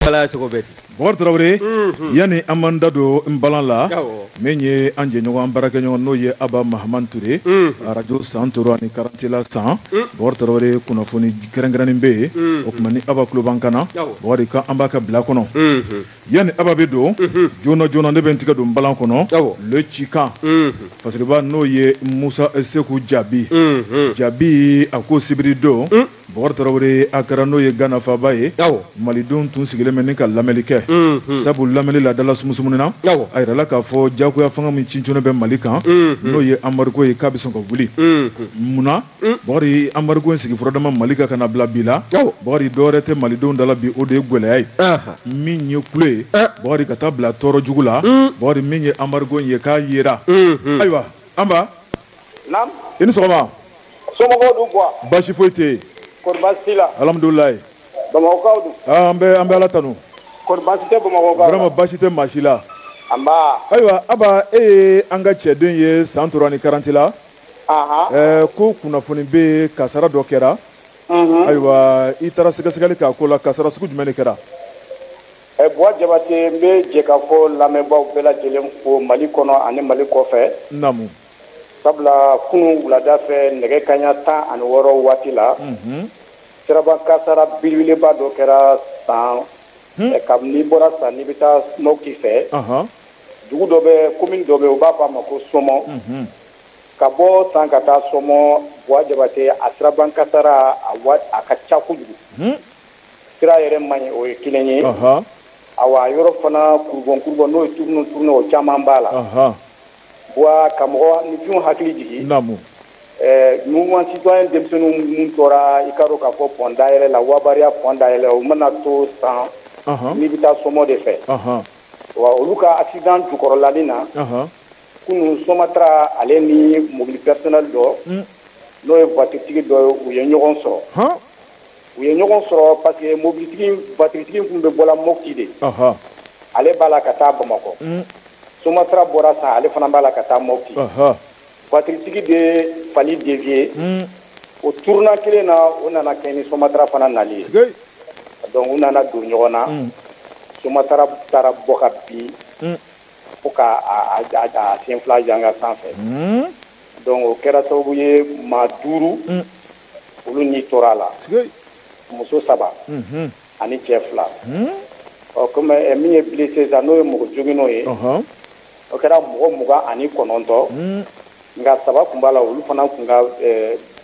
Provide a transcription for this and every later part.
kalaya cogo bɛ ten bɔkari tarawele yanni an b'an da don n balan la Awɔ. min ye an jɛɲɔgɔn an baarakɛɲɔgɔn n'o ye aba mahaman ture arajo santoro ani karantela san bɔkari tarawele kunnafoni kɛrɛnkɛrɛnnen bɛ yen o tuma ni aba tulo b'an kan na Awɔ. bɔkari kan an b'a ka bila kɔnɔ yanni aba bɛ don mhm. joona joona ne bɛ n tigɛ don balan kɔnɔ le cikan mhm. fasiriba n'o ye musa seku jabi mhm. jabi a ko sibiri don mm. bɔkari tarawele akara n'o ye gana faaba ye malidenw tun sigilen bɛ ni ka lamɛnli kɛ sabu lamɛnli la dala sumusumuni na a yirala k'a fɔ jagoya fanga min sinsinnen bɛ mali kan n'o ye embargo ye k'a bɛ sɔn ka wuli munna Mm. bɔkari embargo in sigi fɔlɔ damina mali kan ka na bila bi la bɔkari dɔwɛrɛ tɛ malidenw dala bi o de ye gwɛlɛya ye min ye kule ye eh. bɔkari ka taa bila tɔɔrɔ jugu la mm. bɔkari min ye embargo in ye k'a yera mm-hmm. ayiwa aba i ni sɔgɔma somɔgɔw dun quoi baasi foyi tɛ yen kɔri baasi t'i la alamidulilayi bamakɔkaw dun ah, an bɛ an bɛ ala tanu kɔri baasi tɛ bamakɔkaw vraiment baasi tɛ maa si la anba ayiwa aba e ye an ka cɛden ye santoro ani karantela ɛɛ ko kunnafoni bɛ yen kasara dɔ kɛra ayiwa i taara sɛgɛsɛgɛli k'a ko la kasara sugu jumɛn de kɛra buwa jabate n bɛ jɛkafɔ lamɛnbaaw bɛɛ lajɛlen fo mali kɔnɔ ani mali kɔfɛ naamu sabula kunun wulada fɛ nɛgɛ kanɲɛ tan ani wɔɔrɔ waati la siraba kasara belebeleba dɔ kɛra san kabini bɔra san n'i bɛ taa mɔti fɛ dugu dɔ bɛ commune dɔ bɛ u b'a fɔ a ma ko somɔ ka bɔ san ka taa somɔ buwa jabate a siraba kasara a wa a ka ca kojugu hun sira yɛrɛ man ɲi o ye kelen ye ɔhɔɔ awa a yɔrɔ fana kurubɔn kurubɔn n'o ye tournant tournant o caman b'a la ɔhɔɔ buwa ka mɔgɔninfinw hakili jigi naamu ɛɛ mouvement citoyen denmisɛnninw minnu tora i k'a dɔn k'a fɔ pɔn dayɛlɛ la wabariya pɔn dayɛlɛ o mana to san ɔhɔɔ n'i bɛ taa somɔ de fɛ ɔhɔɔ wa olu ka accident jukɔrɔlali na ɔhɔɔ kunun somatra ale ni mobili personnel dɔ hmm. n'o ye vatiritigi dɔ ye u ye ɲɔgɔn sɔrɔ u ye ɲɔgɔn sɔrɔ parce que mobilitigi vatiritigi tun bɛ bɔla mɔti de ale b'a la ka taa bamakɔ hmm. somatra bɔra san ale fana b'a la ka taa mɔti vatiritigi de fali dévier hmm. o tournant kelen na o nana kɛ ni somatra fana nali ye donc u nana don ɲɔgɔn na somatra taara bɔ ka bin fo ka a sen fila janka sanfɛ donc o kɛra sababu ye maa duuru olu ni tora a la muso saba ani cɛ fila ɔ comme min ye blessé sa n'o ye mɔgɔ joginnenw ye o kɛra mɔgɔ mugan ani kɔnɔntɔn nka saba tun b'a la olu fana tun ka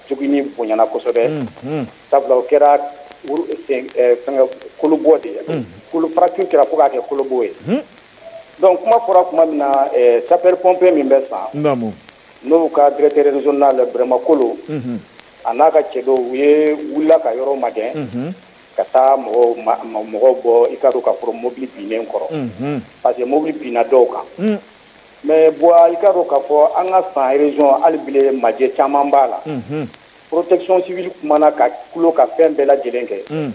joginni bonyana kosɛbɛ sabula o kɛra kolobɔ de ye kolo fracture kɛra fo k'a kɛ kolobɔ ye donc kuma fɔra tuma min na eh, sapeur pompier min bɛ san n'o ka directeur régional Bɛrɛma Kolo mhm. a n'a ka cɛ dɔw u ye wulila ka yɔrɔ magɛn mhm. ka taa mɔgɔw bɔ i ka dɔn k'a fɔ mobili binnen kɔrɔ mhm. parce que mobili binna dɔw kan mm. mais Buwa i ka dɔn k'a fɔ an ka san région hali bile majɛ caman b'a la protection civile kumana ka tulo ka fɛn bɛɛ lajɛlen kɛ mm.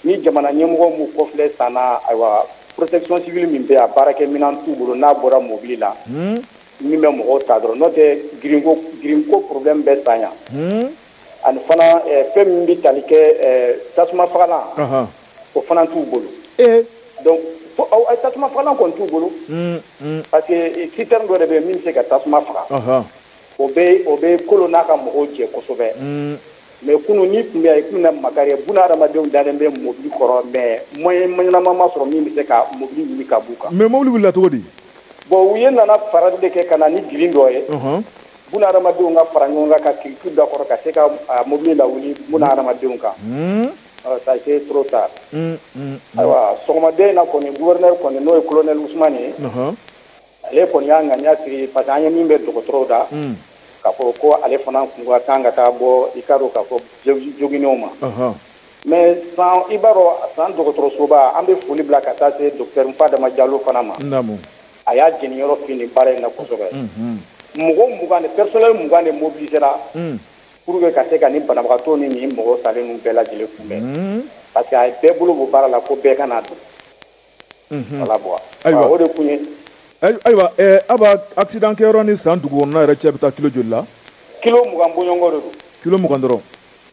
ni jamana ɲɛmɔgɔ m'u kɔfilɛ san na ayiwa protection civile min bɛ a baarakɛminan t'u bolo n'a bɔra mobili la hmm. min bɛ mɔgɔw ta dɔrɔn n'o tɛ girinko problème bɛ san yan hmm. ani fana eh, fɛn min bɛ tali kɛ eh, tasuma fagalan o fana t'u bolo eh. donc tasuma fagalan kɔni t'u bolo hmm, parce que citerne dɔ de bɛ yen min bɛ se ka tasuma faga o bɛ o bɛ Kolo n'a ka mɔgɔw jɛ kosɛbɛ mm. mais kunun n'i tun bɛ yen i tun na makari buna hadamadenw dalen bɛ mobili kɔrɔ mais moyen ma ɲɛnama ma sɔrɔ min bɛ se ka mobili wuli ka b'u kan mais mobili wulila cogo di bon u ye nana farali de kɛ ka na ni girin dɔ ye buna hadamadenw ka fara ɲɔgɔn kan ka kiriki da kɔrɔ ka se ka mobili lawuli buna hadamadenw kan mm. ça a été trop tard mm, ayiwa sɔgɔmada in na kɔni gouverneur kɔni n'o ye colonel Ousmane ye ale kɔni y'a ŋaniya sigi parce que an ye min bɛ dɔgɔtɔrɔw da k'a fɔ ko ale fana kun ka kan ka taa bɔ i ka dɔn k'a fɔ joginnenw ma mais san i b'a dɔn san dɔgɔtɔrɔsoba an bɛ foli bila ka taa se docteur Nfadama Jalo fana ma a y'a jeniyɔrɔ fin nin baara in na kosɛbɛ mɔgɔ mugan de personnel mugan de mobiliser ra pour que ka se ka nin banabagatɔ ni nin mɔgɔ salen ninnu bɛɛ lajɛlen kunbɛn parce que a ye bɛɛ bolo bɔ baara la ko bɛɛ ka n'a don voilà Buwa ayiwa o de kun ye ayiwa Aba accident kɛyɔrɔ ni san dugu kɔnɔna yɛrɛ cɛ bɛ taa kilo joli la kilo mugan bɔɲɔgɔnko de don kilo mugan dɔrɔn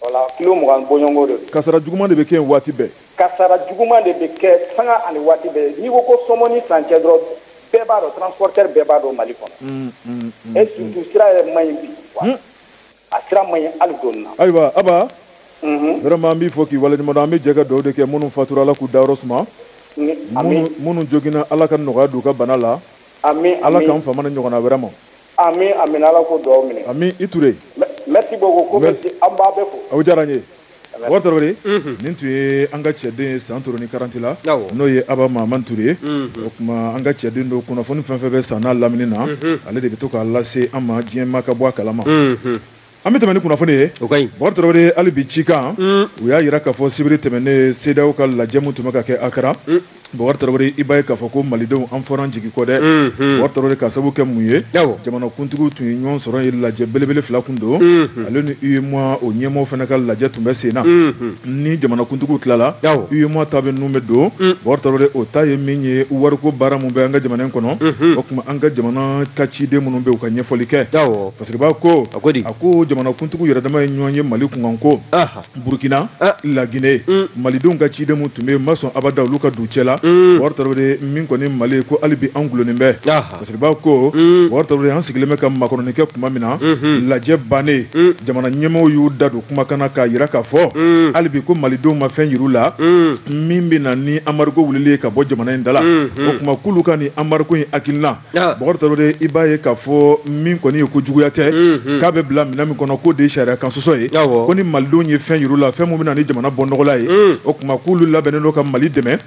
voilà kilo mugan bɔɲɔgɔnko de don kasara juguman de bɛ kɛ yen waati bɛɛ kasara juguman de bɛ kɛ sanga ani waati bɛɛ n'i ko ko sɔmɔ ni san cɛ dɔrɔn bɛɛ b'a dɔn transporteur bɛɛ b'a dɔn mali kɔnɔ et surtout sira yɛrɛ man ɲi bi a sira man ɲi hali dɔɔni na ayiwa Aba mhm. vraiment an b'i fo k'i waleɲuman dɔn an bɛ jɛ ka dugawu de kɛ minnu fatura ala k'u dayɔrɔ suma minnu joginna ala ka nɔgɔya don u ka bana la ala k'an famana ɲɔgɔnna wɛrɛ ma ami amina ala k'o dugawu minɛ ami i Ture merci beaucoup ko merci an b'aw bɛɛ fo aw diyara n ye Bukari Tarawele, unhun, nin tun ye an ka cɛden ye Santoro ni Karantela, awɔ, n'o ye Aba Mahamani Ture ye, unhun, o tuma an ka cɛden don kunnafoni fɛn fɛn bɛ san n'a lamini na, unhun, ale de bɛ to k'a lase an ma diɲɛ maa ka bɔ a kalama, unhun, an bɛ tɛmɛn ni kunnafoni ye, o ka ɲi, Bukari Tarawele, hali bi cikan, un, u y'a jira k'a fɔ sibiri tɛmɛnen CEDEAO ka lajɛ min tun bɛ ka kɛ Akara, un Bɔkari Tarawele i b'a ye k'a fɔ ko malidenw an fɔr'an jigi kɔ dɛ, unhun, Bɔkari Tarawele k'a sabu kɛ mun ye, awɔ, jamanakuntigiw tun ye ɲɔgɔn sɔrɔ ye lajɛ belebele fila tun don, unhun, ale ni UEMOA o ɲɛmɔgɔw fana ka lajɛ tun bɛ sen na, unhun, ni jamanakuntigiw tilala, awɔ, UEMOA ta bɛ ninnu bɛ don, un, Bɔkari Tarawele o ta ye min ye wariko baara min bɛ an ka jamana in kɔnɔ, unhun, o tuma an ka jamana ka ciden minnu bɛ yen u ka ɲɛfɔli kɛ, awɔ, Fasiriba ko, a ko di, a ko jamanakuntigiw yɛrɛdama ye ɲɔgɔn ye Mali kunkanko, anhan burkina ah. la guinée mm. malidenw ka ciden min tun bɛ ma sɔn abada olu ka don cɛ la mm. bokari tarawele min kɔni mali ye ko hali bi an gulonnen bɛ fasiriba ko mm. bokari tarawele an sigilen bɛ ka makɔnɔni kɛ tuma min na mm-hmm. lajɛ bannen jamana ɲɛmɔgɔw y'u da don kumakan na k'a yira k'a fɔ hali bi ko malidenw ma fɛn yir'u la min bɛ na ni anbariko wulili ye ka bɔ jamana in da la mm-hmm. o tuma k'olu ka nin anbariko in hakilina bokari tarawele i b'a ye k'a fɔ min kɔni ye ko juguya tɛ k'a bɛ bila minɛn min kɔnɔ k'o de ye sariya kan sɔsɔ ye ko ni malidenw ye fɛn yir'u la fɛn min bɛ na ni jamana bɔnɔgɔla ye o tuma k'olu labɛnnen don ka mali dɛmɛ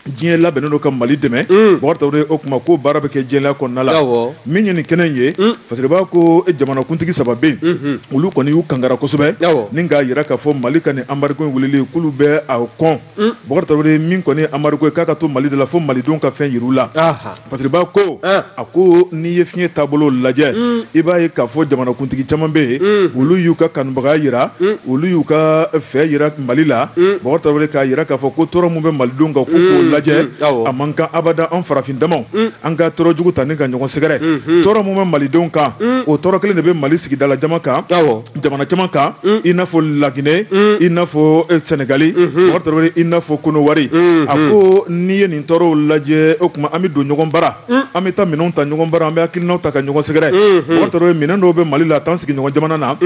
diɲɛ labɛnnen don ka mali dɛmɛ bokari tarawele o tuma ko baara bɛ kɛ jɛlenya kɔnɔna la min ye nin kɛnɛ in ye fasiriba ko jamanakuntigi saba bɛ yen olu kɔni y'u kangara kosɛbɛ ni k'a jira k'a fɔ mali ka nin anbariko in wulili k'olu bɛ a kɔn Mm. Bokari Tarawele min kɔni ye anbariko ye k'a ka to Mali da la fo Malidenw ka fɛn yir'u la. Aha. Fasiriba ko Ah. a ko n'i ye fiɲɛ taabolo lajɛ Mm. i b'a ye k'a fɔ jamanakuntigi caman bɛ yen Mm. olu y'u ka kanubagaya jira Mm. olu y'u ka fɛ jira Mali la Mm. Bokari Tarawele k'a jira k'a fɔ ko tɔɔrɔ min bɛ Malidenw kan k'u k'o Mm, lajɛ mm, awɔ. a man kan abada an farafin damaw Mm. an ka tɔɔrɔ jugu ta ni ka ɲɔgɔn sɛgɛrɛ Mhm. tɔɔrɔ min bɛ Malidenw kan Mm. o tɔɔrɔ kelen de bɛ Mali sigidala jama kan Awɔ. jamana caman kan mm. i n'a fɔ laginɛ mm. i n'a fɔ eh, sɛnɛgali mm-hmm. bokari tarawele i n'a fɔ konowari mm-hmm. a ko n'i ye nin tɔɔrɔw lajɛ o tuma an bɛ don ɲɔgɔn bara mm. an bɛ taa minɛnw ta ɲɔgɔn bara an bɛ hakilinaw ta ka ɲɔgɔn sɛgɛrɛ mm-hmm. bokari tarawele minɛn dɔw bɛ mali la t'an sigiɲɔgɔn jamana na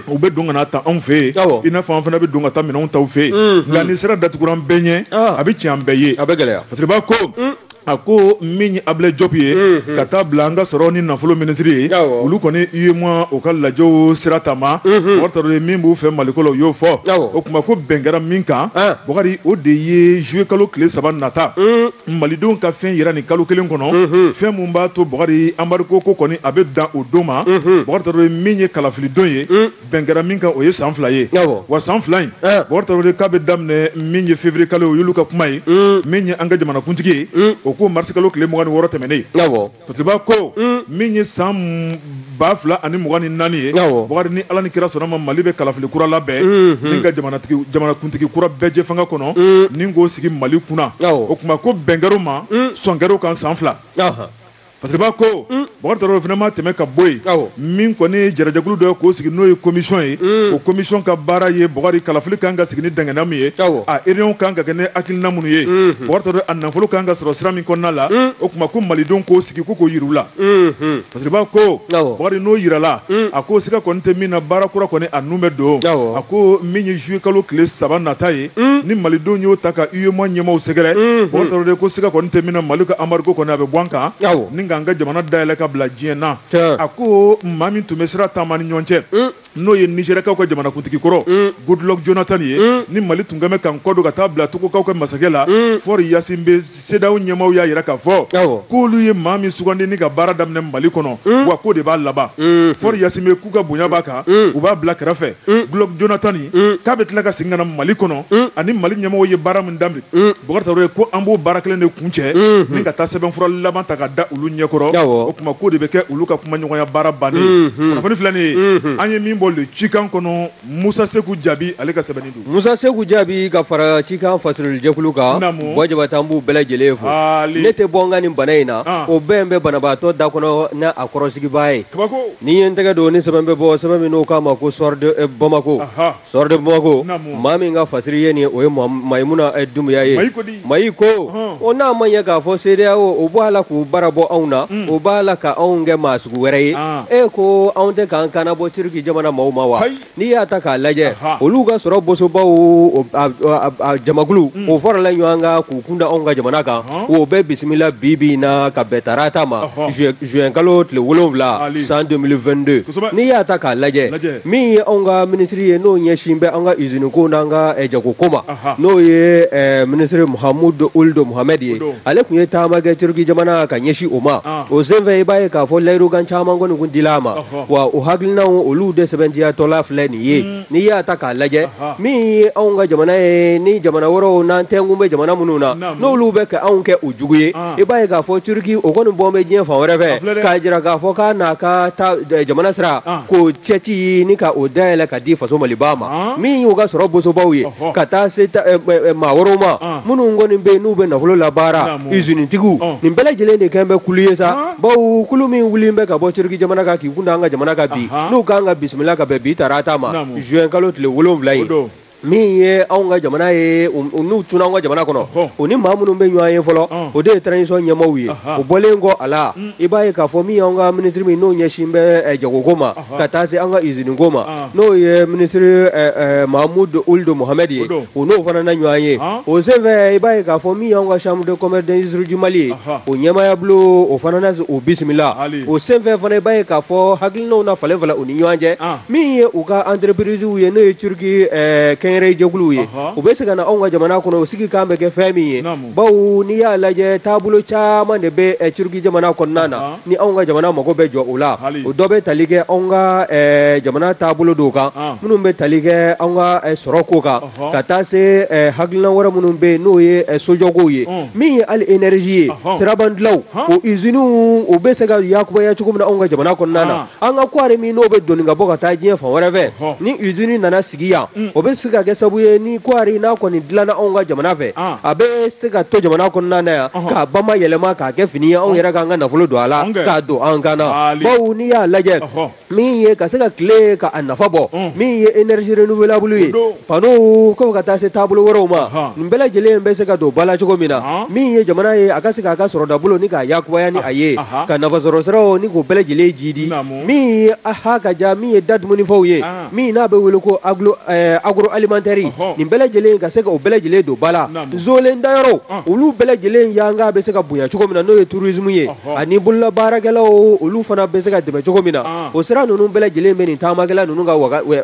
u bɛ don ka n'a ta anw fɛ yen i n'a fɔ an fana bɛ don ka taa minɛnw ta u fɛ yen nka ni sira datugura an bɛɛ ɲɛ ah. a bɛ tiɲɛ an bɛɛ ye a bɛ gɛlɛya fasiriba ko a ko min ye abilɛ jɔpu ye mhm. ka t'a bila an ka sɔrɔ ni nafolo minisiri ye olu kɔni UEMOA o ka lajɛw sira taama mhm. bokari tarawele min b'u fɛ maliko la u y'o fɔ o tuma ko bɛn kɛra min kan ah. bokari o de ye zuluye kalo tile saba nata mhm. malidenw ka fɛn yira nin kalo kelen kɔnɔ fɛn min b'a to bokari anbariko ko kɔni a bɛ dan o don ma bokari tarawele min ye kalafilidon ye bɛn kɛra min kan o ye san fila ye wa san fila in bakari tarawele k'a bɛ daminɛ min ye février kalo o y'olu ka kuma ye mm. min ye an ka jamanakuntigi ye mm. o ko marisi kalo tile mugan ni wɔɔrɔ tɛmɛnen fasiriba ko mm. min ye san ba fila ani mugan ni naani ye bakari ni ala ni kira sɔnna ma mali bɛ kalafili kura labɛn mm-hmm. ni ka jamanakuntigi kura bɛɛjɛfanga kɔnɔ ni k'o sigi mali kunna o tuma ko bɛn kɛr'o ma sɔn kɛr'o kan san fila fasiriba ko mm. bakari tarawele o fana ma tɛmɛ ka bɔ yen min kɔni ye jarajɛkulu dɔ ye k'o sigi n'o ye komisɔn ye mm. o komisɔn ka baara ye bakari kalafili kan ka sigi ni dangana min ye a réunion kan ka kɛ ni hakilina minnu ye mm-hmm. bakari tarawele a nafolo kan ka sɔrɔ sira min kɔnɔna la mm. o tuma ko malidenw k'o sigi ko k'o yir'u la mm-hmm. fasiriba ko bakari n'o yirala a ko siga kɔni tɛ min na baara kura kɔni a nun bɛ don a ko min ye juillet kalo tile saba nata ye mm. ni malidenw y'o ta ka UEMOA ɲɛmaaw sɛgɛrɛ mm-hmm. Bakari Tarawele ko siga kɔni tɛ min na Mali ka embargo kɔni a bɛ bɔ an kan ni k'an ka jamana dayɛlɛ ka bila diɲɛ na a ko maa min tun bɛ sira taama ni ɲɔgɔn cɛ mm. n'o ye Nizɛriyakaw ka jamanakuntigi kɔrɔ mm. Goodluck Jonathan ye ni Mali tun kɛn bɛ k'an kɔ don ka taa bila Togokaw ka masakɛ la Faure Gnassingbé CEDEAO ɲɛmaaw y'a jira k'a fɔ k'olu ye maa min sugandi ni ka baara daminɛ Mali kɔnɔ hmm. wa k'o de b'a laban hmm. Faure Gnassingbé k'u ka bonya b'a kan hmm. u b'a bila kɛrɛfɛ Goodluck Jonathan k'a bɛ tila ka segin ka na Mali kɔnɔ ani Mali ɲɛmɔgɔw ye baara min daminɛ Bakari Tarawele ko an b'o baara kelen de kuncɛ ni ka taa sɛbɛnfura laban ta ka da olu ɲɛkɔrɔ o tuma k'o de bɛ kɛ olu ka kumaɲɔgɔnya baara bannen ye kunnafoni filɛ nin ye an ye min bɔ le cikan kɔnɔ musa seku jaabi ale ka sɛbɛnni don musa seku jaabi ka fara cikan fasirilijɛkulu kan bɔ jabatɛ an b'u bɛɛ lajɛlen fo ne tɛ bɔ n ka nin bana in na ah. o bɛn bɛ banabaatɔ da kɔnɔ n'a a kɔrɔsigibaa ye n'i ye n tɛgɛ don ni sɛbɛn bɛ bɔ sɛbɛn min n'o k'a ma ko soir de eh, bamako soir de bamako maa min ka fasiri ye nin o ye mayimuna eh, dumbuya ye Mayi ko o n'a ma ɲɛ k'a fɔ CEDEAO o b'a la k'u bara bɔ anw na o b'a la ka anw kɛ maa sugu wɛrɛ ye e ko anw tɛ k'an kana bɔ Turki jamana maaw ma wa n'i y'a ta k'a lajɛ olu ka sɔrɔ bosobaw jamakulu o farala ɲɔgɔn kan k'u kunda anw ka jamana kan o bɛ bisimila bi bi na ka bɛn tarata ma juin kalo tile wolonwula san 2022 n'i y'a ta k'a lajɛ min ye anw ka minisiri ye n'o ɲɛsin bɛ an ka usine ko n'an ka jago ko ma n'o ye eh, minisiri muhamudu uldo muhamɛd ye ale tun ye taama kɛ turuki jamana ka ɲɛsin o ma ah. o senfɛ i b'a ye k'a fɔ layirukan caman kɔni kun dila a ma wa o hakilinaw olu de sɛbɛntiyatɔla filɛ nin ye mm. n'i y'a ta k'a lajɛ min ye anw ka jamana ye ni jamana wɛrɛw n'an tɛnkun bɛ jamana minnu na n'olu bɛ ka anw kɛ u jugu ye ah. i b'a ye k'a fɔ turuki o kɔni bɔn bɛ diɲɛ fan wɛrɛ fɛ k'a jira k'a fɔ k'a n'a ka eh, jamana sira ah. k'o cɛci ni ka o dayɛlɛ ka di faso maliba ma min y'u ka sɔrɔ bosobaw ye ka taa se maa wɛrɛw ma minnu kɔni bɛ n'u bɛ nafolo labaara izinitigiw nin bɛɛ lajɛlen de kɛlen bɛ kulu ye sa bawo kulu min wuli bɛ ka bɔ turki jamana kan k'i kun an ka jamana kan bi n'u kan ka bisimila ka bɛn bi tarata ma juin kalo tile wolonwula ye min ye anw ka jamana ye n'u donna anw ka jamana kɔnɔ u ni maa minnu bɛ ɲɔgɔn ye fɔlɔ o de ye transition ɲɛmaaw ye o bɔlen kɔ a la i b'a ye k'a fɔ min y'anw ka minisiri min n'o ɲɛsin bɛ jagoko ma ka taa se an ka iziniko ma n'o ye minisiri Mahmoud Ould Mohamed ye o n'o fana na ɲɔgɔn ye o senfɛ i b'a ye k'a fɔ min y'an ka chambre de commerce d'industrie du Mali ye o ɲɛmaaya bulon o fana na o bisimila o senfɛ fana i b'a ye k'a fɔ hakilinaw na falenfalen u ni ɲɔgɔn cɛ min ye u ka entreprisew ye n'o ye turki kɛnyɛrɛye jɛkuluw ye u bɛ se ka na anw ka jamana kɔnɔ o sigikan bɛ kɛ fɛn min ye bawo n'i y'a lajɛ taabolo caman de bɛ eh, turki jamana kɔnɔna na ni anw ka jamana mago bɛ jɔ o la o dɔ bɛ tali kɛ anw ka eh, jamana taabolo dɔw kan minnu bɛ tali kɛ anw ka eh, sɔrɔ ko kan ka taa se hakilina wɛrɛ minnu bɛ yen n'o ye sojɔkow ye min ye hali energie ye sirabadilanw o iziniw u bɛ se ka yakubaya cogo min na anw ka jamana kɔnɔna na an ka kɔɔri min n'o bɛ doni ka bɔ ka taa diɲɛ fan wɛrɛ fɛ ni usine nana sigi yan mm. o bɛ se ka kɛ sabu ye ni kɔɔri n'a kɔni dilanna anw ka jamana fɛ ah. a bɛ se ka to jamana kɔnɔna na yan k'a bama yɛlɛma k'a kɛ fini ye anw yɛrɛ k'an ka nafolo don a la k'a don an kan na bawo n'i y'a lajɛ min ye ka se ka tile ka a nafa bɔ mm. min ye énergie renouvelable ye panneaux ko ka taa se taabolo wɛrɛw ma Ahan. nin bɛɛ lajɛlen bɛ se ka don ba la cogo min na Ahan. min ye jamana ye a ka se k'a ka sɔrɔdabolo ni k'a yakubaya ni a ye Ahan. ka nafasɔrɔsiraw ni k'o bɛɛ lajɛlen jiidi Naamu. min ye aha ka ja min ye da dumunifɛnw ye Ahan. min n'a bɛ wele ko aglo eh, agroalimentaire Ɔhɔ. nin bɛɛ lajɛlen ka se ka o bɛɛ lajɛlen don ba la Naamu. nzolen dayɔrɔw Ɔn. olu bɛɛ lajɛlen yanga bɛ se ka bonya cogo min na n'o ye tourisme ye Ɔhɔ. ani bololabaarakɛlaw olu fana bɛ se ka dɛmɛ cogo min na Ɔn. o sira ninnu bɛɛ lajɛlen bɛ nin taamakɛla ninnu ka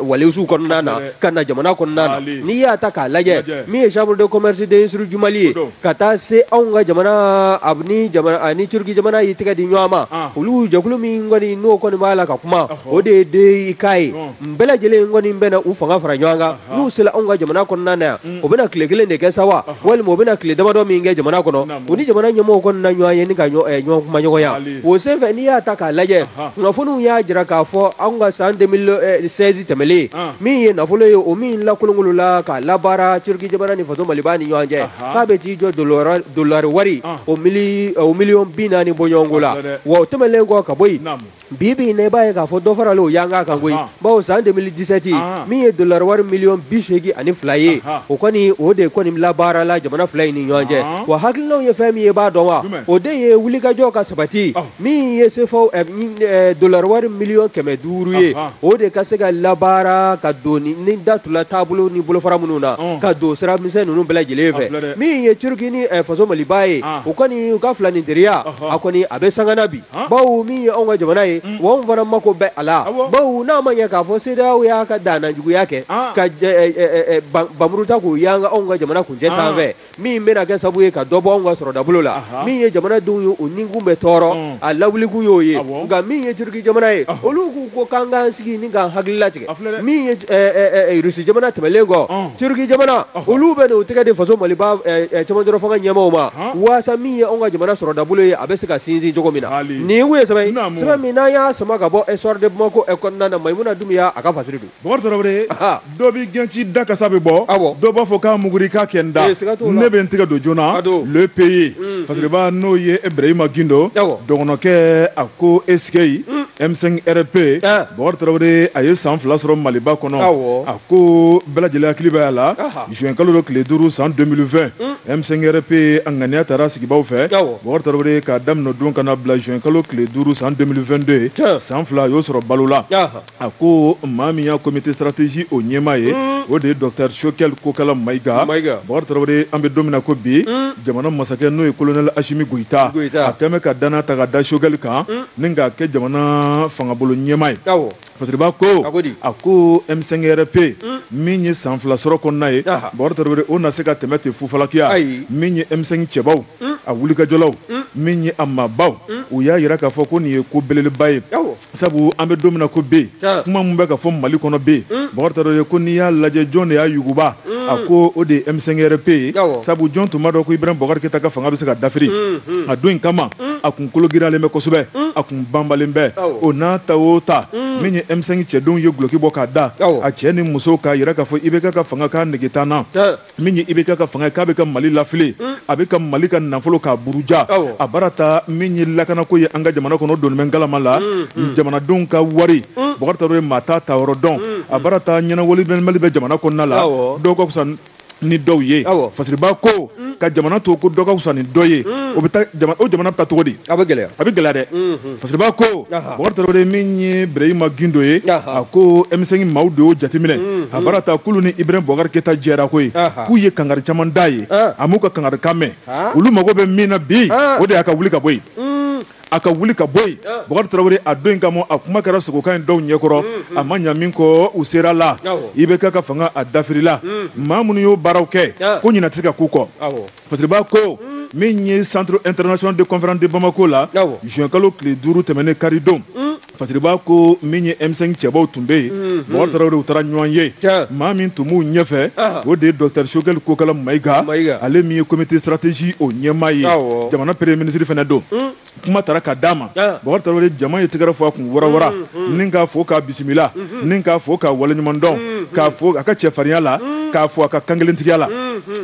waliziw kɔnɔna na ka na jamana kɔnɔna na n'i y'a ta k'a lajɛ min ye chambre de commerce d'industrie du Mali ye ka taa se anw ka jamana ni jamana ni turki jamana y'i tɛgɛ di ɲɔgɔn ma olu jɛkulu min kɔni n'o kɔni b'a la ka kuma o de ye DEIK ye nin bɛɛ lajɛlen kɔni bɛna u fanga fara ɲɔgɔn kan n'u sera anw ka jamana kɔnɔna na yan mm. o bɛna tile kelen de kɛ sa wa walima o bɛna tile damadɔ min kɛ jamana kɔnɔ u ni jamana ɲɛmɔgɔw kɔni na ɲɔgɔn ye ni ka ɲɔgɔn eh, kumaɲɔgɔnya o senfɛ n'i y'a ta k'a lajɛ kunnafoniw y'a jira k'a fɔ anw ka san 2016 eh, tɛmɛlen ah. min ye nafolo ye o min lakolonkolola k'a labaara turki jamana ni faso maliba ni ɲɔgɔn cɛ k'a bɛ t'i jɔ dolari wari ah. o miliyɔn bi naani bɔɲɔgɔnko la wa o tɛmɛnlen kɔ ka bɔ yen bi bi in na i b'a ye k'a fɔ dɔ faralen o yanga kan koyi bawo san 2017 min ye dollar wari miliyɔn bi seegin ani fila ye o kɔni o de kɔni labaarala jamana fila in ni ɲɔgɔn cɛ wa hakilinaw ye fɛn min ye b'a dɔn wa o de ye wulikajɔ ka sabati min ye sefaw eh, eh, dollar wari miliyɔn kɛmɛ duuru ye o de ka se ka labaara ka don ni datula taabolo ni bolofara minnu na ka don sira misɛn ninnu bɛɛ lajɛlen fɛ min ye turki ni eh, faso maliba ye o kɔni u ka filaninteriya a kɔni a bɛ sanga na bi bawo min ye anw ka jamana ye mm. wa anw fana mako bɛ a la bawo n'a ma ɲɛ k'a fɔ CEDEAO y'a ka dannajuguya kɛ ah. ka eh, eh, eh, banmuru ta k'o yanga anw ka jamana kuncɛ ah. sanfɛ min bɛna kɛ sabu ye ka dɔ bɔ anw ka sɔrɔdabolo la min ye jamanadenw ye u nikun bɛ tɔɔrɔ mm. a lawulikun y'o ye nka min ye turiki jamana ye olu k'u ko k'an k'an sigi ni k'an hakili latigɛ min ye Russie jamana tɛmɛnlen kɔ Turquie jamana olu bɛ n'u tɛgɛ di faso Maliba cɛmancɛ fanga ɲɛmaaw ma waasa min ye anw ka jamana sɔrɔdabolo ye a bɛ se ka sinsin cogo min na nin kun ye sɛbɛn ye sɛbɛn min n'an y'a sama ka bɔ le Soir de Bamako kɔnɔna na Mayimuna Dumuya a ka fasiri don Bukari Tarawele dɔ b'i gɛn k'i da kasa bɛ bɔ dɔ b'a fɔ k'a muguri k'a kɛ n da ne bɛ n tɛgɛ don joona le pays fasiriba n'o ye Ibrahima Gindo dɔgɔnɔkɛ a ko Esikeyi. M5 RP ah. Bɔkari Tarawele a ye san fila sɔrɔ Maliba kɔnɔ a ko bɛɛ lajɛlen hakili bɛ a la juin kalo don tile duuru san 2020 M5 RP a ŋaniya tara sigibaw fɛ Bɔkari Tarawele k'a daminɛ o don ka na bila juin kalo tile duuru san 2022 san fila a y'o sɔrɔ balo la a ko maa min y'a comité stratégie o ɲɛmaa ye hmm. o de ye docteur Choguel Kokala Mayiga Bɔkari Tarawele an bɛ don min na ko bi hmm. jamana masakɛ n'o ye colonel Asimi Goyita a kɛlen bɛ ka danaya ta ka da Choguel kan hmm. ni k'a kɛ jamana fangabolo ɲɛmaa ye fasiriba ko a ko M5 RP hmm. min ye san fila sɔrɔ kɔnɔna ye bɔkari tarawele o na se ka tɛmɛ ten fufalakiya min ye M5 cɛbaw hmm. a wulikajɔlaw hmm. min ye a maabaw u y'a yira k'a fɔ ko nin ye ko belebeleba ye sabu an bɛ don min na ko bi kuma min bɛ ka fɔ mali kɔnɔ bi bɔkari tarawele ko n'i y'a lajɛ jɔn de y'a yuguba a ko o de ye M5 RP ye sabu jɔn tun b'a dɔn ko ibrahim bɔkari keyita ka fanga bɛ se ka dafiri a don in kama mm. a kun kologiralen bɛ kosɛbɛ mm. a kun banbalen bɛ o n'a ta o ta mm. min ye M5 cɛdenw ye guloki bɔ k'a da a cɛ ni muso k'a yira k'a fɔ IBK ka fanga k'a nege t'an na min ye IBK ka fanga k'a bɛ ka mali lafili a bɛ ka mali ka nafolo k'a buruja a baara ta min ye lakanako ye an ka jamana kɔnɔ doni bɛ ngalama la jamanadenw ka wari bɔkari tarawele maa t'a taa yɔrɔ dɔn a baara ta ɲɛnawolomali bɛ jamana kɔnɔna la dɔw ka fisa ni dɔw ye fasiriba ko mm. ka jamana to ko dɔ ka fisa ni dɔ ye mm. o bɛ o jamana bɛ taa cogo di a bɛ gɛlɛya a bɛ gɛlɛya dɛ mm-hmm. fasiriba ko bɔkari tarawele min ye birahima gindo ye a ko M5 maaw de y'o jateminɛ mm-hmm. a baara ta k'olu ni ibrahim bɔkari keyita jɛra ko ye k'u ye kangari caman d'a ye a m'u ka kangarikan mɛn olu mago bɛ min na bi o de y'a ka wuli ka bɔ yen mm. a ka wuli ka bɔ yen bɔkari tarawele a don in kama a kuma kɛra sogokan in dɔw ɲɛkɔrɔ a ma ɲa min kɔ u sera la IBK ka fanga a dafirila maa minnu y'o baaraw kɛ ko ɲina tɛ se ka k'u kɔ fasiriba ko min ye centre international de conférence de bamako la juin kalo tile duuru tɛmɛnen karidon Fasiriba ko min ye M5 cɛbaw tun bɛ yen mm, Bɔkari mm. Tarawele u taara ɲɔgɔn ye maa min tun b'u ɲɛfɛ o de ye Docteur Sogɛli Kokala Mayiga ale min ye comité stratégie o ɲɛmaa ye jamana premier ministre fana don mm. kuma taara ka d'a ma Bɔkari Tarawele jama ye tɛgɛrɛ fɔ a kun warawara ni k'a fo k'a bisimila ni k'a fo k'a waleɲuman dɔn k'a fo a ka cɛfarinya la k'a fo a ka kankelentigiya la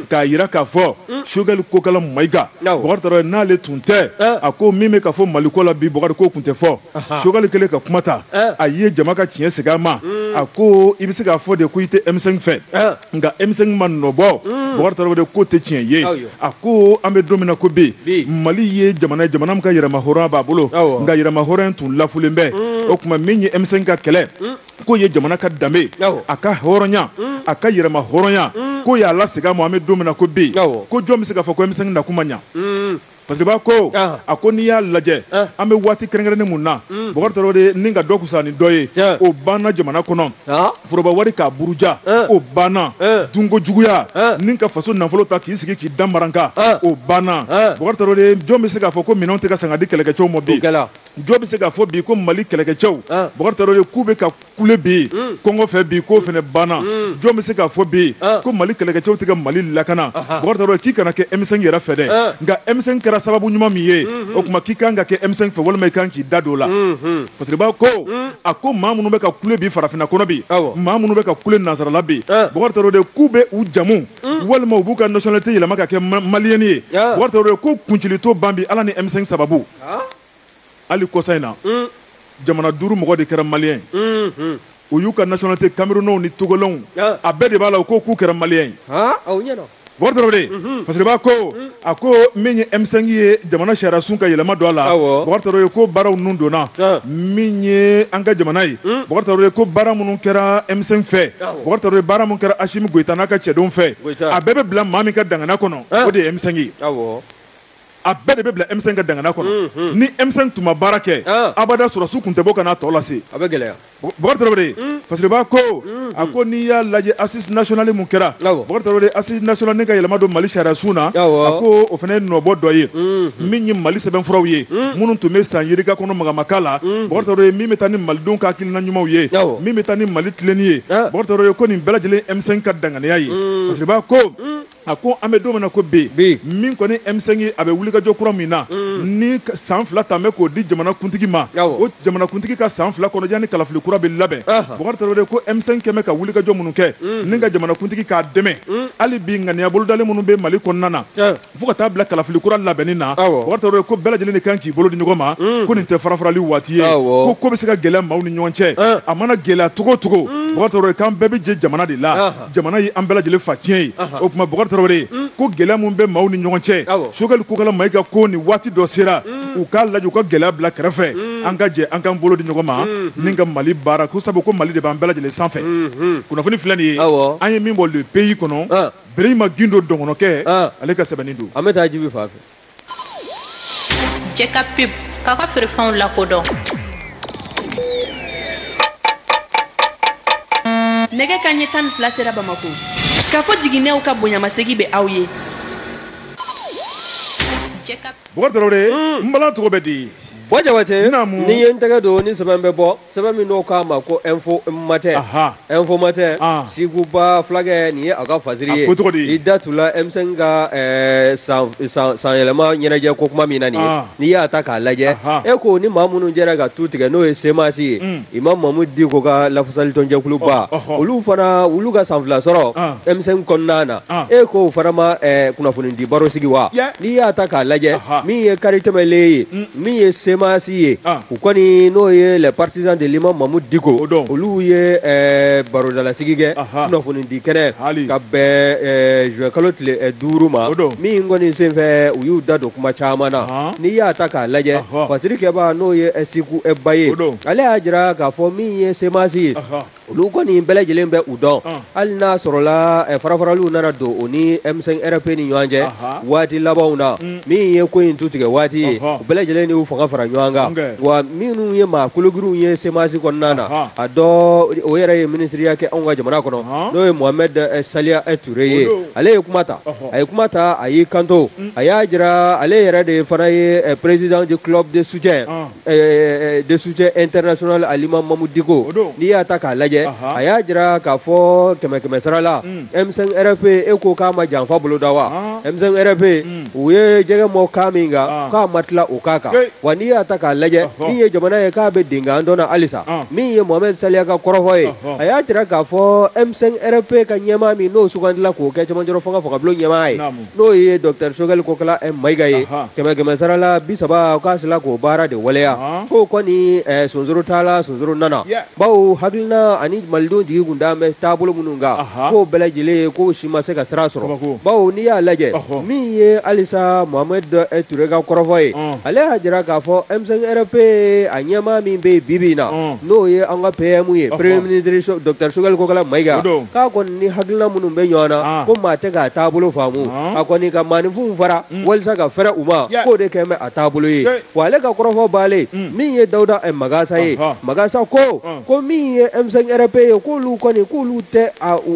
k'a yira k'a fɔ mm. sogɛli kokala mayiga bɔkari tarawele n'ale tun tɛ eh. a ko min bɛ ka fɔ mali ko la bi bɔkari k'o tun tɛ fɔ sogɛli kɛlen ka kuma ta eh. a ye jama ka tiɲɛ segin a ma mm. a ko i bɛ se k'a fɔ de ko i tɛ M5 fɛ eh. nka M5 ma nɔbɔ mm. bɔkari tarawele ko tɛ tiɲɛ ye a ko an bɛ don min na ko bi mali ye jamana ye jamana min ka yɛrɛmahɔrɔnya b'a bolo nka yɛrɛmahɔrɔnya tun lafulen bɛ o tuma min ye M5 ka kɛlɛ k'o ye jamana ka danbe a ka hɔrɔnya mm. a ka yɛrɛma hɔrɔnya mm. k'o y'a lasegin a ma an bɛ don min na ko bi ko jɔn bɛ se k'a fɔ ko M5 nakun ma ɲa mm. fasiriba ko ah. a ko n'i y'a lajɛ ah. an bɛ waati kɛrɛnkɛrɛnnen mun na bɔkari tarawele ni ka dɔ kusa ni dɔ ye o banna jamana kɔnɔ ah. foroba wari k'a buruja o banna dunko juguya ni ka faso nafolo ta k'i sigi k'i da maranka o banna bɔkari tarawele jɔn bɛ se k'a fɔ ko minɛnw tɛ ka san ka di kɛlɛkɛcɛw ma bi jɔn bɛ se k'a fɔ bi ko mali kɛlɛkɛcɛw ah. bɔkari tarawele k'u bɛ ka kule bi yen hmm. kɔngɔ fɛ bi k'o fana banna hmm. jɔn bɛ se k'a fɔ bi yen ah. ko mali kɛlɛkɛcɛw tɛ ka mali lakana bɔkari tarawele k'i kana kɛ M5 yɛrɛ fɛ dɛ ah. nka M5 kɛra sababu ɲuman min ye hmm, o tuma k'i kan ka kɛ M5 fɛ walima i kan k'i da don o la fasiriba ko a ko maa minnu bɛ ka kule bi farafinna kɔnɔ bi maa minnu bɛ ka kule nansarala bi bɔkari tarawele k'u bɛ u jamu walima u b'u ka nationalité yɛlɛma ka kɛ maliyɛn ye bɔkari tarawele ko kuncili t'o ban bi ala ni M5 sababu hali kɔsa in na hmm. jamana duuru mɔgɔ de kɛra maliyɛn hmm, hmm. u y'u ka nationalité camerounenw ni togolenw ah. a bɛɛ de b'a la u ko k'u kɛra maliyɛn ye Bɔkari Tarawele mhm. fasiriba ko mhm. a ko min ye M5 ye jamana sariya sun ka yɛlɛma don a la Bɔkari Tarawele ko baaraw ninnu donna ah. min ye an ka jamana ye mhm. Bɔkari Tarawele ko baara minnu kɛra M5 fɛ Bɔkari Tarawele baara minnu kɛra Asimi Goyita n'a ka cɛdenw fɛ a bɛɛ bɛ bila maa min ka dangana kɔnɔ ah. o de ye M5 ye. a bɛɛ de bɛ bila M5 ka dangana kɔnɔ hmm, hmm. ni M5 tun ma baara kɛ ah. abada sɔrɔsiw tun tɛ bɔ ka n'a tɔ lase a bɛ gɛlɛya bɔkari tarawele hmm. fasiriba ko a ko n'i y'a lajɛ assise nationale mun kɛra bɔkari tarawele assise nationale ni ka yɛlɛma don mali sariyasun na a ko o fana ye nɔbɔ dɔ ye min ye mali sɛbɛnfuraw ye minnu tun bɛ san yirika kɔnɔ magamaka la bɔkari tarawele min bɛ taa ni malidenw ka hakilina ɲumanw ye min bɛ taa ni mali tilenni ye ah. bɔkari tarawele ko nin bɛɛ lajɛlen M5 ka danganiya ye fasiriba ko a ko an bɛ don min na ko bi min kɔni M5 a bɛ wulikajɔ kura min na mm. ni san fila tɛmɛ k'o di jamanakuntigi ma o jamanakuntigi ka san fila kɔnɔ yanni kalafili kura bɛ labɛn Bukari Tarawele ko M5 kɛmɛ ka wulikajɔ minnu kɛ mm. ni ka jamanakuntigi k'a dɛmɛ mm. hali bi ŋaniya bolodalen minnu bɛ Mali kɔnɔna na fo ka taa bila kalafili kura labɛnni na Bukari Tarawele ko bɛɛ lajɛlen de kan k'i bolo di ɲɔgɔn ma ko nin tɛ farafarali waati ye ko ko bɛ se ka gɛlɛya maaw ni ɲɔgɔn cɛ a mana gɛlɛya cogo o cogo Bukari Tarawele k'an bɛɛ bɛ jɛ jamana de la. jamana ye an bɛɛ lajɛlen fa tiɲɛ ye o tuma bɔkari tarawele ye mm. ko gɛlɛya min bɛ maaw ni ɲɔgɔn cɛ Sogɛli Kokala Mayiga ko nin waati dɔ sera mm. u k'a lajɛ u ka gɛlɛya bila kɛrɛfɛ mm. an ka jɛ an k'an bolo di ɲɔgɔn ma mm-hmm. ni ka mali baara ko sabu ko mali de b'an bɛɛ lajɛlen sanfɛ mm-hmm. kunnafoni filɛ nin ye an ye min bɔ le pays kɔnɔ ah. Bureyima Gindo dɔgɔnɔkɛ ah. ale ka sɛbɛnni don an bɛ taa Jibi fan fɛ jɛka pub k'aw ka feerefɛnw lakodɔn nɛgɛ kanɲɛ tan ni fila sera bamako Kafo Jiginɛw ka bonyamasegi bɛ aw ye bɔgɔ tarawele n balan tɔgɔ bɛ di bɔ jabate n'i ye n tɛgɛ don ni sɛbɛn bɛ bɔ sɛbɛn min n'o k'a ma ko info matin info matin Siku Ba fulakɛ nin ye a ka fasiri ye i da tula M5 ka eh, san yɛlɛma ɲɛnajɛ ko kuma min na nin ye n'i y'a ta k'a lajɛ e ko ni maa minnu jɛra ka tu tigɛ n'o ye semasi ye mm. imam Mamudu Diko ka lafasali tɔnjɛkuluba olu fana olu ka san fila sɔrɔ M5 kɔnɔna na e ko o fana ma eh, kunnafoni di baro sigi wa n'i y'a ta k'a lajɛ min ye kari tɛmɛlen ye mm. min ye semasi ye ah. u kɔni n'o ye les partisans de l'imam Mamudu Diko olu ye eh, barodalasigi kɛ kunnafonidi kɛnɛ ka bɛn eh, juin kalo tile eh, duuru ma min kɔni senfɛ u y'u da don kuma caman na n'i y'a ta k'a lajɛ fasiri kɛba n'o ye siku ba ye ale y'a jira k'a fɔ min ye semasi ye olu kɔni bɛɛ lajɛlen bɛ u dɔn hali n'a sɔrɔla eh, farafaraliw nana don o ni M5 RFP ni ɲɔgɔn cɛ waati labanw na mm. min ye ko in tu tigɛ waati ye u bɛɛ lajɛlen de y'u fanga fara ɲɔgɔn kan wa minnu ye maa kologirinw ye semasi kɔnɔna na a dɔ o yɛrɛ ye minisiriya kɛ anw ka jamana kɔnɔ n'o ye Mohamed eh, Saliya eh, Ture ye ale ye kuma ta a ye kuma ta a y'i kanto mm. a y'a jira ale yɛrɛ de fana ye président du club de soutien Eh, de soutien international à l'imam Mamudu Diko n'i y'a ta k'a lajɛ a y'a jira k'a fɔ kɛmɛ kɛmɛ sara la m5 rfp e ko k'a ma janfa boloda wa m5 rfp u ye jɛgɛ mɔn kan min kan k'a ma tila o kan kan wa n'i y'a ta k'a lajɛ min ye jamana ye k'a bɛ denkan dɔn na halisa min ye mohamɛd saliya ka kɔrɔfɔ ye a y'a jira k'a fɔ m5 rfp ka ɲɛmaa min n'o sugandila k'o kɛ cɛmancɛrɔ fanga fangabulon ɲɛmaa ye n'o ye dɔkitɛri sogɛli kokala eh, mayiga ye kɛmɛ kɛmɛ sara la bi saba k'a sila k'o baara de waleya k'o kɔni eh, sonsoro taala sonsoro nana bawo hakilina ani malidenw jigi kun da bɛ taabolo minnu kan k'o bɛɛ lajɛlen ye k'o si ma se ka sira sɔrɔ bawo n'i y'a lajɛ min ye halisa mohamɛd eh, ture ka kɔrɔfɔ ye ale y'a jira k'a fɔ m5 rp a ɲɛmaa min bɛ yen bi bi in na n'o ye an ka PM ye premier ministre docteur Sogɛli Kokala Mayiga k'a kɔni ni hakilina minnu bɛ ɲɔgɔn na ah. ko maa tɛ k'a taabolo faamu ah. a kɔni ka maaninfinw fara mm. walisa ka fɛrɛ u ma k'o de kɛn bɛ a taabolo ye wa ale ka kɔrɔfɔ baalen mm. min ye Dawuda eh, Magasa ye Magasa ko ah. ko min ye M5 RP ye k'olu kɔni k'olu tɛ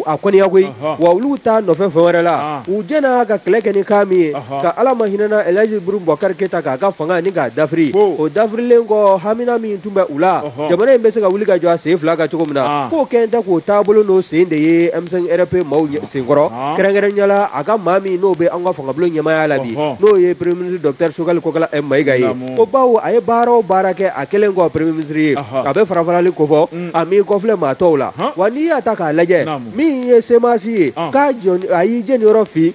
a koniya koyi wa olu t'a nɔfɛ fɛn wɛrɛ la u jɛna ka kɛlɛ kɛ ni kan min ye ka Ala ma hinɛna Elhaji Ibrahim Bubakari Keyita k'a ka fanga ni k'a dafiri o dafirilen kɔ hamina min tun bɛ u la jamana in bɛ se ka wuli ka jɔ a sen fila kan cogo min na k'o kɛn tɛ k'o taabolo n'o sen de ye M5 RP maaw senkɔrɔ kɛrɛnkɛrɛnyala a ka maa min n'o bɛ an ka fangabulon ɲɛmaaya la bi n'o ye premier ministre docteur sogɛli kokala mayiga ye ko bawo a ye baara o baara kɛ a kɛlen kɔ premier ministre ye a bɛ farafarali kofɔ a m'i kɔfilɛ maa tɔw la wa n'i y'a ta k'a lajɛ min ye semasi ye k'a a y'i jeniyɔrɔ fin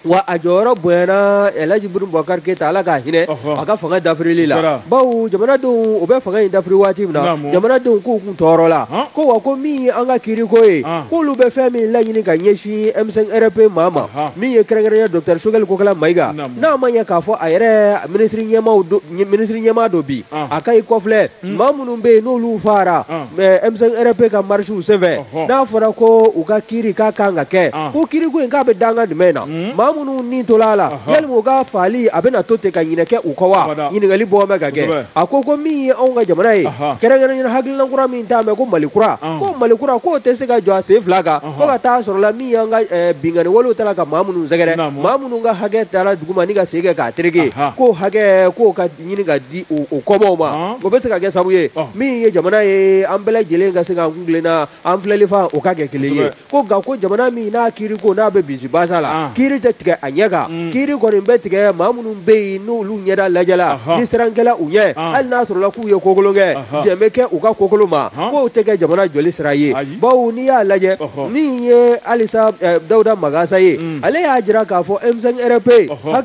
wa a jɔyɔrɔ bonyana Elhaji Ibrahim Bubakari Keyita Ala k'a hinɛ ɔhɔ a ka fanga dafirili la Jara. bawo jamanadenw u bɛ fanga in dafiri waati min na Naamu. jamanadenw k'u kun tɔɔrɔla Han. ko wa ko min ye an ka kiiriko ye Han. k'olu bɛ fɛn min laɲini ka ɲɛsin M5 RP maa ma Ahan. min ye kɛrɛnkɛrɛnya Docteur Sogɛli Kokala Mayiga Naamu. n'a ma ɲɛ k'a fɔ a yɛrɛ minisiri ɲɛmaaw do- ɲɛ- minisiri ɲɛmaa don bi An. a ka i kɔfilɛ Hmm. maa minnu bɛ yen n'olu faara ah. m5 rp ka marisiw senfɛ n'a fɔra ko u ka kiri k'a kan ka kɛ ah. ko kiriko in k'a bɛ danga jumɛn na hmm. maa minnu ni tola a la yali u ka faali a bɛna to ten ka ɲinɛ kɛ u kɔ wa ɲininkali bɔ bɛ ka kɛ a ko ko min ye anw ka jamana ye kɛrɛnkɛrɛnnen hakilina kura min t'a mɛn ko mali kura ah. ko mali kura k'o tɛ se ka jɔ a sen fila kan fo ka taa sɔrɔla min y'an ka eh, binkanni walew ta la ka maa minnu sɛgɛrɛ maa minnu ka hakɛ taara duguma ni ka sen kɛ k'a tereke k'o hakɛ k'o ka ɲini ka di o kɔmaaw ma o bɛ se ka kɛ sabu ye min ye jamana ye an bɛɛ lajɛlen ka se k'an kuntilenna an filɛli fan o ka kɛ kelen ye ko nka ko jamana min n'a kiri ko n'a bɛ bisi basa la kiri tɛ tigɛ a ɲɛ kan mm. kiri kɔni bɛ tigɛ maa minnu bɛ yen n'olu ɲɛda lajɛla ni siran kɛla u ɲɛ hali n'a sɔrɔla k'u ye ko kolon kɛ jɛn bɛ kɛ u ka ko kolon ma k'o tɛ kɛ jamana jɔli sira ye bawo n'i y'a lajɛ min ye halisa eh, dawuda magasa ye mm. ale y'a jira k'a fɔ m5 rp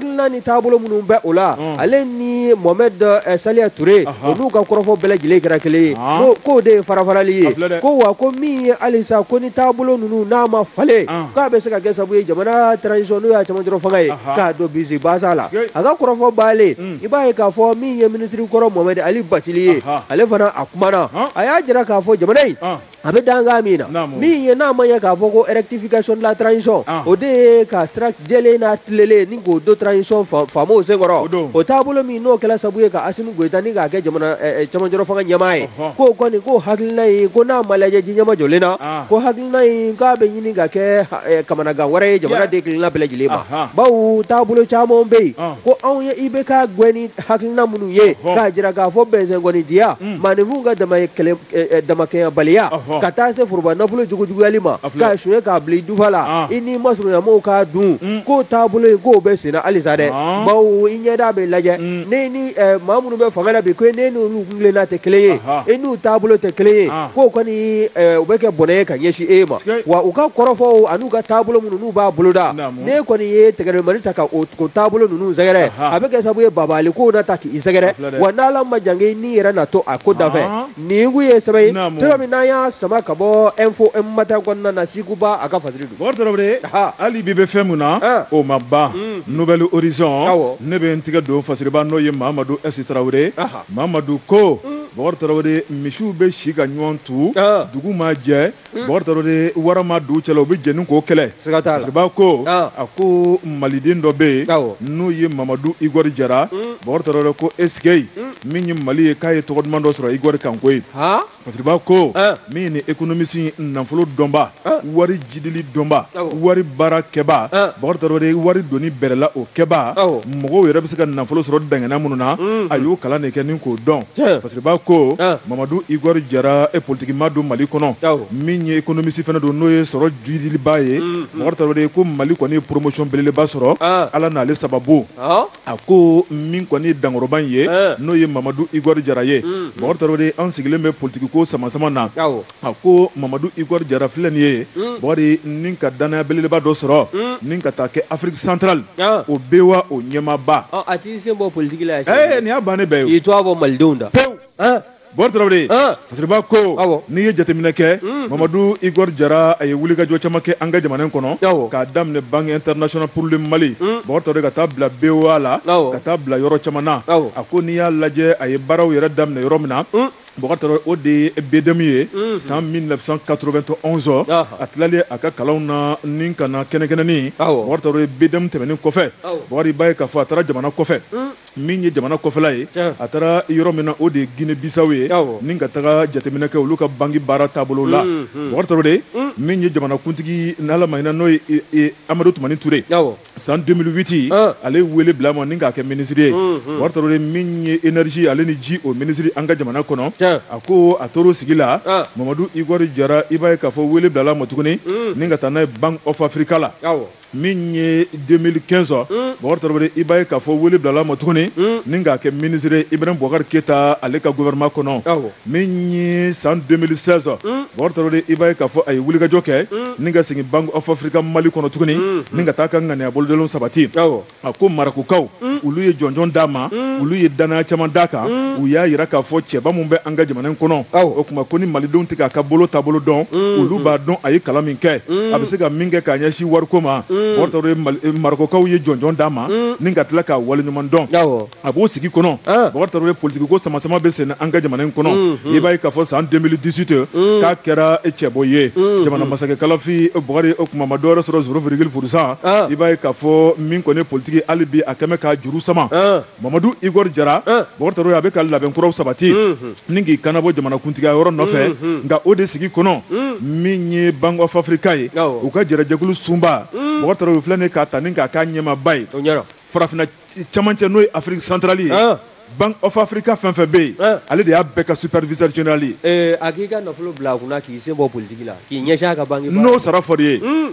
hakilina ni taabolo minnu bɛ o la mm. ale ni mohamɛd eh, saliya ture olu ka kɔrɔfɔ bɛɛ lajɛlen kɛra kelen ye ah. k'o de ye farafarali ye ko wa ko min ye halisa ko ni taabolo ninnu n'a ma falen ah. k'a bɛ se ka kɛ sabu ye jamana transition n'o y'a cɛmancɛrɔ fanga ye k'a don bisi basa la a ka kɔrɔfɔ baalen mm. i b'a ye k'a fɔ min ye minisiri kɔrɔ mohamɛd ali batili ye ale fana a kumana a y'a jira k'a fɔ jamana in a bɛ dankan min na min ye n'a ma ɲɛ k'a fɔ ko rectification de la transition o de ye ka sira jɛlen n'a tilelen ni k'o do transition faamaw senkɔrɔ o taabolo min n'o kɛla sabu ye ka Asimi Goyita ni k'a kɛ jamana cɛmancɛrɔ fanga ɲɛmaa ye k'o kɔni ko hakilina in ko n'a ma lajɛ ji ɲɛmajɔlen na ko hakilina in k'a bɛ ɲini ka kɛ kamanagan wɛrɛ ye jamanaden kelenna bɛɛ lajɛlen ma bawo taabolo caman bɛ yen ko anw ye IBK gɛn ni hakilina minnu ye k'a jira k'a fɔ bɛnsɛnkɔnidiya mm. maaninfinw ka eh, eh, damakɛɲɛbaliya ka taa se foroba nafolo jugujuguyali ma k'a suɲɛ k'a bila i dufa la ah. i n'i masurunyamaaw k'a dun mm. k'o taabolo ye k'o bɛ senna halisa dɛ ah. bawo i ɲɛda bɛ lajɛ mm. ne ni eh, maa minnu bɛ fanga la bi ko ne n'olu kuntilenna tɛ kelen ye i n'u taabolo tɛ kelen ye ah. k'o kɔni u bɛ kɛ bɔnɛ ye ka ɲɛsin e ma wa u ka kɔrɔfɔw an'u ka taabolo minnu n'u b'a boloda ne kɔni ye tɛgɛrɛmani ta ka o taabolo ninnu sɛgɛrɛ a bɛ kɛ sababu ye babali kow na ta k'i sɛgɛrɛ wa n'Ala ma jan kɛ n'i yɛrɛ na to a ko dafɛ nin kun ye sɛbɛn ye cogo min n'an y'a sama ka bɔ Info Matin kɔnɔna na Siku Ba a ka fasiri don hali bi bɛ fɛn min na o ma ban Nouvel Horizon ne bɛ n tɛgɛ don fasiriba n'o ye mamadu esi tarawele mamadu ko bɔkari tarawele misiw bɛ si ka ɲɔgɔn tu dugu ma jɛ Bɔkari Traore ni wara ma don u cɛla u bɛ jɛni k'o kɛlɛ, siga t'a la, fasiriba ko, ɔn, a ko Maliden dɔ bɛ yen, awɔ, n'o ye Mamadu Igɔri Jara, un, Bɔkari Traore ko e sigey, un, min ye Mali ye k'a ye tɔgɔ duman dɔ sɔrɔ Igɔri kan koyi, han, fasiriba ko, ɔn, min ye nin économiste in nafolo dɔnbaa, ɔn, wari jidili dɔnbaa, awɔ, wari baara kɛbaa, ɔn, Bɔkari Traore wari donni bɛrɛla o kɛbaa, awɔ, mɔgɔw yɛrɛ bɛ se ka nafolo sɔrɔ dangana minnu na, unhun, a y'o kalan de kɛ ni k'o dɔn, tiɲɛ. Fasiriba ko mamadu igɔri jara e politigimaa don mali kɔnɔ min ye économiste fana don n'o ye sɔrɔ jidiliba ye bɔkari tarawele ko mali kɔni ye promotion belebeleba sɔrɔ ala n'ale sababu a ko min kɔni dankɔrɔba in ye n'o ye mamadu igɔri jara ye bɔkari tarawele an sigilen bɛ politigiko sama sama na a ko mamadu igɔri jara filɛ nin ye hmm. bɔkari ni ka dannaya belebeleba dɔ sɔrɔ hmm. ni ka taa kɛ afiriki santarali ah. o BOA o ɲɛmaaba ah, a t'i sen bɔ politiki la eh, nin y'a bannen bɛɛ ye i t'a bɔ malidenw da pewu ah. bɔkari tarawele fasiriba ko n'i ye jateminɛ kɛ hmm. mamadu igɔri jara a ye wulikajɔ caman kɛ an ka jamana kɔnɔ k'a daminɛ banque international pour le mali bɔkari tarawele ka taa bila BOA la ka taa bila yɔrɔ caman na a ko n'i y'a lajɛ a ye baaraw yɛrɛ daminɛ yɔrɔ min na Bɔkari o de ye bɛdmi ye san mi katotɔ anwzɔn a tilali a ka kalan na ni ka kɛnɛkɛnɛnin ye bɛd tɛmɛnen kɔfɛ wariba ye ka fɔ a taara jamana kɔfɛ min ye jamana kɔfɛla ye a taara yɔrɔ min na o de ye g bisaw ye ni ka taga jateminɛkɛ olu ka bange baara taabolo la mɔgɔ de min ye jamanakuntigi n' ma n'o amadu tun toraur yen san 2008 ah. ale wele bila ma ni k'a kɛ minisiri ye hmm, hmm. bakari tarawele min ye énergie ale ni ji o minisiri an ka jamana kɔnɔ a ko a tor'o sigi la ah. mamadu igɔri jara i b'a ye k'a fɔ wele bilala ma tuguni hmm. ni ka taa n'a ye bank of africa la min ye 2015 ɔ bakari tarawele i b'a ye k'a fɔ wele bilala ma tuguni ni k'a kɛ minisiri ibrahim bɔkari keyita ale ka gouvernement kɔnɔ min ye san 2016 bakari tarawele i b'a ye k'a fɔ a ye wulikajɔ kɛ ni ka segin bank of africa mali kɔnɔ tuguni ni ka taa ka ŋaniya bolodalenw sabati a ko marɔkukaw olu ye jɔnjɔn d'a ma olu ye dannaya caman d'a kan u y'a yira k'a fɔ cɛba min bɛ an ka jamana in kɔnɔ o tuma ko ni malidenw tɛ k'a ka bolo taabolo dɔn olu b'a dɔn a ye kalan min kɛ a bɛ se ka min kɛ ka ɲɛsin wariko ma bakari tarawele marɔkukaw ye jɔnjɔn d'a ma ni ka tila k'a waleɲuman dɔn a b'o sigi kɔnɔ ah. bakari tarawele politiki ko samasama bɛ senna an ka jamana in kɔnɔ mm, mm. i b'a ye k'a fɔ san 2018 mm. k'a kɛra cɛbɔ ye jamana masakɛ kalafi bakari o tuma ma dɔwɛrɛ sɔrɔ zéro virgule pour cent ah. i b'a ye k'a fɔ min kɔni politiki hali bi a kɛmɛ k'a juru sama ah. mamadu igor jara bakari tarawele a bɛ ka labɛn kuraw sabati ni k'i kanabɔ jamana kuntigiya yɔrɔ nɔfɛ nka o de sigi kɔnɔ min ye bank of africa ye u ka jɛrɛjɛkulu sunba bakari tarawele filɛ nin ye k'a ta ni k'a k'a ɲɛmaaba ye farafinna camancɛ n'o ye afiriki santarali ye ah. bank of africa fɛn fɛn bɛ yen ah. ale de y'a bɛɛ ka superviseur general ye eh, a k'i ka nafolo bila a kunna k'i sen bɔ politiki la k'i ɲɛsin a ka banki n'o sara fɔr'i ye hmm.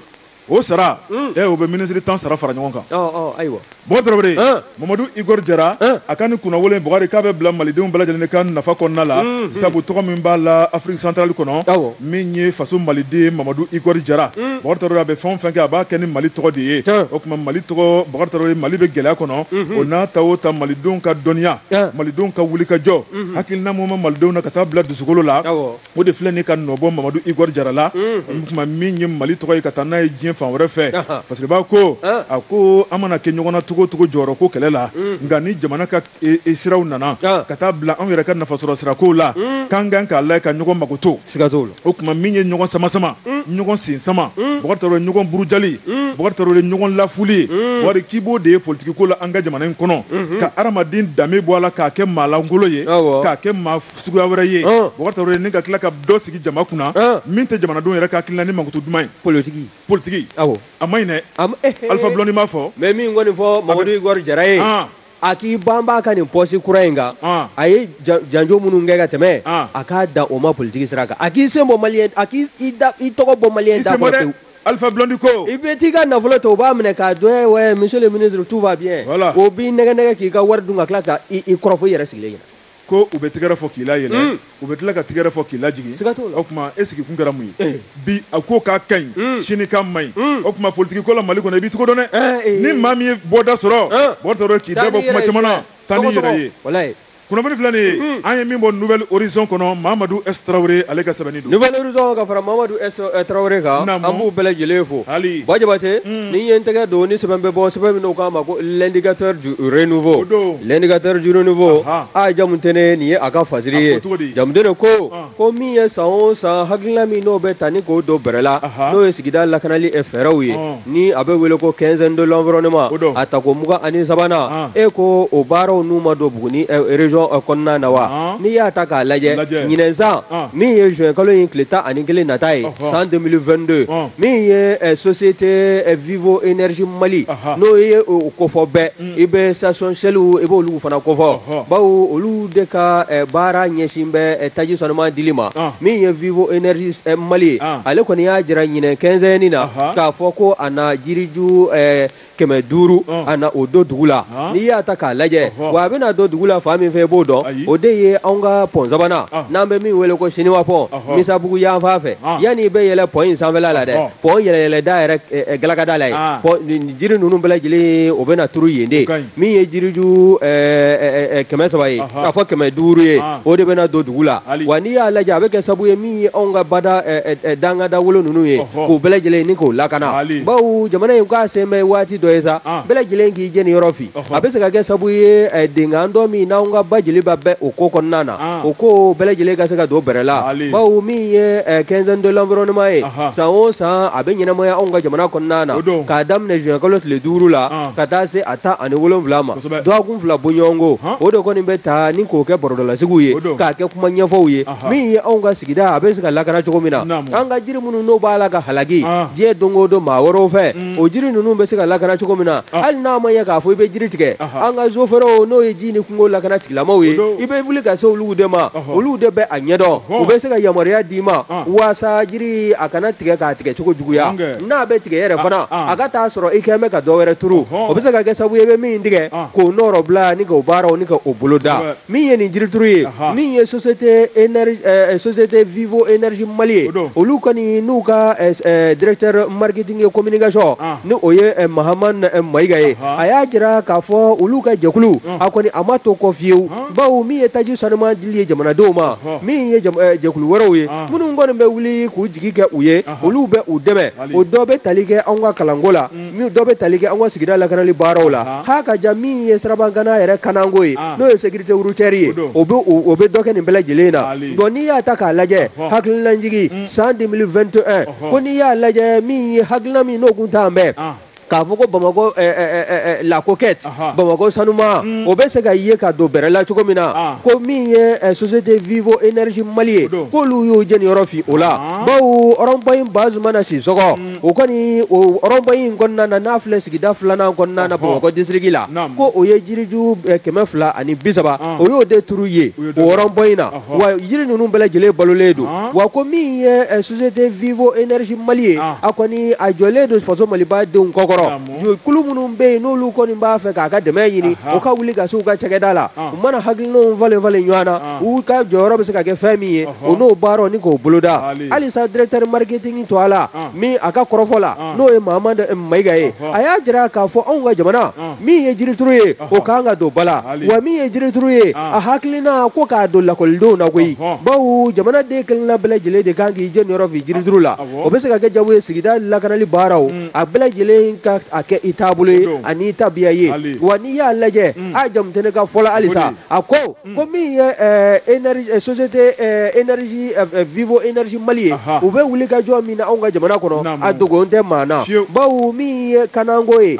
o sara hmm. eh, o bɛ minisiri tan sara fara ɲɔgɔn kan oh, oh, ayiwa bakari tarawele ah. mamadu igor jara a ka nin kunnawolo in bakari k'a bɛ bila malidenw bɛɛ lajɛlen de ka nafa kɔnɔna la hmm, sabu tɔgɔ min b'a la afiriki santarali kɔnɔ min ye faso maliden mamadu igɔri jara mm. bakari tarawele a bɛ fɛn o fɛn kɛ a b'a kɛ ni mali tɔgɔ de ye o tuma mali tɔgɔ bakari tarawele mali bɛ gɛlɛya kɔnɔ mhm. o n'a ta o ta malidenw ka dɔnniya malidenw ka wulikajɔ mhm. hakilina ɲuman malidenw na ka taa bila dusukolo la o de filɛ nin ka nɔbɔ mamadu igɔri jara la mhm. o tuma min ye mali tɔgɔ ye ka taa n'a ye diɲɛ fan wɛrɛ fɛ parce que b'a ko a ko an mana kɛ ɲɔgɔn na cogo o cogo jɔyɔrɔ ko kɛlɛ la nka ni jamana ka e, e siraw nana ah. ka taa bila anw yɛrɛ ka nafasɔrɔ sirakow la mm. k'an kan k'a lajɛ ka ɲɔgɔn makoto siga t'o la o tuma min ye ɲɔgɔn samasama mm. ɲɔgɔn sen sama mm. bakari tarawele ɲɔgɔn burujali bakari tarawele ɲɔgɔn lafili ye bakari k'i b'o de ye politiki ko la an ka jamana in kɔnɔ mm-hmm. ka adamaden danbe bɔ a la k'a kɛ maa lankolon ye k'a kɛ maa suguya wɛrɛ ye ah. bakari tarawele ni ka tila ka dɔ sigi jama kunna ah. min tɛ jamanadenw yɛrɛ ka hakilina ni mankutu duman ye politiki politiki a man ɲi dɛ eh, eh, eh. Alpha Blondy m'a fɔ mais min kɔni fɔ mamadu igɔri jara ye ah. a k'i banba ka nin pɔsi kura in kan ah. a ye janjo minnu kɛ ka tɛmɛ ah. a ka dan o ma politiki sira kan a k'i sen bɔ maliyɛn a k'i tɔgɔ bɔ maliyɛn da kɔrɔ pewu Alpha Blondy ko i bɛ t'i ka nafolo to u b'a minɛ k'a dun ouais monsieur le ministre tout va bien voilà. u b'i nɛgɛn nɛgɛn k'i ka wari dun ka tila ka i kɔrɔfɔ i yɛrɛ sigilen ɲɛna ko u bɛ tigɛrɛ fɔ k'i layɛlɛ mm. u bɛ tila ka tigɛrɛ fɔ k'i lajigin o tuma e sigi kun kɛra mun ye eh. bi a ko k'a ka ɲi mm. sini k'a man ɲi mm. o tuma politiki ko la mali kɔnɔ i b'i cogo dɔn dɛ eh, eh. ni maa min ye bɔda sɔrɔ mɔgɔ t'a dɔn k'i da bɔ kuma caman na taa n'i yɛrɛ ye kunnafoni filɛ nin ye an ye min bɔ nouvelle horizon kɔnɔ mamadu s tarawele ale ka sɛbɛnni Nouvelle Horizon ka fara Mamadu S Tarawele kan, naamu, an b'u bɛɛ lajɛlen fo, hali, Ba Jabate, un, ni n ye n tɛgɛ don ni sɛbɛn bɛ bɔ sɛbɛn min n'o k'a ma ko l'indicateur du renouveau, o don, l'indicateur du renouveau, anhan, A Jamutɛnɛ ye nin ye a ka fasiri ye, a ko cogo di, Jamutɛnɛ ko, ɔn, ko min ye san o san hakilina min n'o bɛ ta ni k'o don bɛrɛ la, anhan, n'o ye sigida lakanali fɛɛrɛw ye, ɔn ni a bɛ wele ko quinzaine de l'environnement a tako mugan ani sabanan e ko o baaraw nun ma don Buguni région kɔnɔna na wa n'i y'a ta k'a lajɛ ɲinɛ san min ye juin kalo in tile tan ani kelen nata ye san 2022 min ye société Vivo Energie Mali n'o ye o kofɔ bɛɛ i bɛ station Shellw i b'olu fana kofɔ bawo olu de ka baara ɲɛsin bɛ taji sanuma dili ma min ye vivo énergie mali ye ale kɔni y'a jira ɲinɛ quinzaine na k'a fɔ ko a na jiriju kɛmɛ duuru a na o don dugu la n'i y'a ta k'a lajɛ wa a bɛna don dugu la fan min fɛ i b'o dɔn o de ye anw ka pɔn sabanan n'an bɛ min wele ko siniwa pɔn misabugu yanfan fɛ yanni i bɛ yɛlɛ pɔn in sanfɛla la dɛ pɔn yɛlɛyɛlɛda yɛrɛ galakada la ye jiri ninnu bɛɛ lajɛlen o bɛna turu yen de min ye jiriju kɛmɛ saba ye k'a fɔ kɛmɛ duuru ye o de bɛna don dugu la wa n'i y'a lajɛ a bɛ kɛ sabu ye min ye anw ka bada dangada wolo ninnu ye k'o bɛɛ lajɛlen ni k'o lakana bawo jamana in k'a sen bɛ waati dɔ ye sa bɛɛ lajɛlen k'i jɛni yɔrɔ fin a bɛ se ka kɛ sabu ye eh, denkan dɔ min n'anw ka ba jeliba bɛ o ko kɔnɔna na ah. o ko bɛɛ lajɛlen ka se ka don bɛrɛ la bawo min ye eh, quinzaine de l'environnement ye san o san a bɛ ɲɛnamaya anw ka jamana kɔnɔna na k'a daminɛ juin kalo tile duuru la ah. ka taa se a tan ani wolonwula ma dɔgɔkun fila bɔɲɔgɔnko o de kɔni bɛ ta ni k'o kɛ bɔrɔdɔlasigiw ye k'a kɛ kuma ɲɛfɔw ye min ye anw ka sigida a bɛ se ka lakana cogo min na an ka jiri minnu n'o b'a la ka halaki ah. diɲɛ don o don maa wɛrɛw fɛ mm. o jiri ninnu bɛ se ka lakana cogo min na hali n'a ma ɲɛ k'a fɔ i bɛ jiri tigɛ an ka zofɛrɛw n'o ye ji ni kungo lakana tigilamaw ye i bɛ wuli ka se olu de ma olu de bɛ a ɲɛdɔn u bɛ se ka yamaruya d'i ma waasa jiri a kana tigɛ k'a tigɛ cogo juguya n'a bɛ tigɛ yɛrɛ fana a ka t'a sɔrɔ i quand même ka dɔ wɛrɛ turu o bɛ se ka kɛ sabu ye i bɛ min tigɛ k'o nɔrɔ bila ni k'o baaraw ni ka o bolo da min ye nin jirituru ye min ye société énergie euh, euh, société vivo énergie mali ye olu kɔni n'u ka euh, directeur marketing et communication ah. ni o ye mahaman mayiga ye a y'a jira k'a fɔ olu ka jɛkulu ah. a kɔni a ma to kɔ fiyewu ah. bawo min ye taji sanuma dili ye jamanadenw ma min ye jɛkulu wɛrɛw ye minnu kɔni bɛ wuli k'u jigi kɛ u ye olu bɛ u dɛmɛ o dɔ bɛ tali kɛ anw ka kalanko la mm. min dɔ bɛ tali kɛ an ka sigida lakanali baaraw la ha ka ja min ye sirabakanna yɛrɛ kanako ye n'o ye sécurité routière ye o bɛ dɔ kɛ nin bɛɛ lajɛlen na donc n'i y'a ta k'a lajɛ hakilinajigi san 2021 ko n'i y'a lajɛ min ye hakilina min n'o kun tan bɛ k'a fɔ ko bamakɔ la coquette bamakɔ sanuma o bɛ se ka ye ka don bɛrɛ la cogo min na ko min ye société vivo énergie mali ye k'olu y'o jeniyɔrɔ fin o la bawo rond-point in Bazumana Sis o kɔni o rond-point in kɔnɔna na n'a filɛ sigida filanan kɔnɔna na bamakɔ disiriki la ko o ye jiriju eh, kɛmɛ fila ani bi saba ah. o y'o de turu ye o rond-point in na wa jiri ninnu bɛɛ lajɛlen balolen don ah. wa ko min ye eh, société vivo énergie mali ye ah. a kɔni a jɔlen don faso maliba denw kɔkɔrɔ kulu minnu bɛ yen n'olu kɔni b'a fɛ k'a ka dɛmɛ ɲini o ka wuli ka se u ka cakɛda la u mana hakilinaw falen falen ɲɔgɔn na u ka jɔyɔrɔ bɛ se ka kɛ fɛn min ye o n'o baaraw ni k'o boloda halisa directeur marketing to a la min a ka kɔrɔfɔ la n'o ye Mahamadu eh, Mayiga ye a y'a jira k'a fɔ anw ka jamana min ye jirituru ye o kan ka don ba la wa min ye jirituru ye a hakilina ko k'a don lakɔlidenw na koyi bawo jamana den kelenna bɛɛ lajɛlen de kan k'i jeniyɔrɔ fin jirituru la o bɛ se ka kɛ sabu ye sigida lakanali baaraw a bɛɛ lajɛlen ka a kɛ i taabolo ye ani tabiya ye wa n'i y'a lajɛ a jamutɛnɛ ka fɔ la halisa a ko ko min ye société énergie vivo énergie mali ye u bɛ wuli ka jɔ min na anw ka jamana kɔnɔ a dogon tɛ maa na bawo min ye kanako ye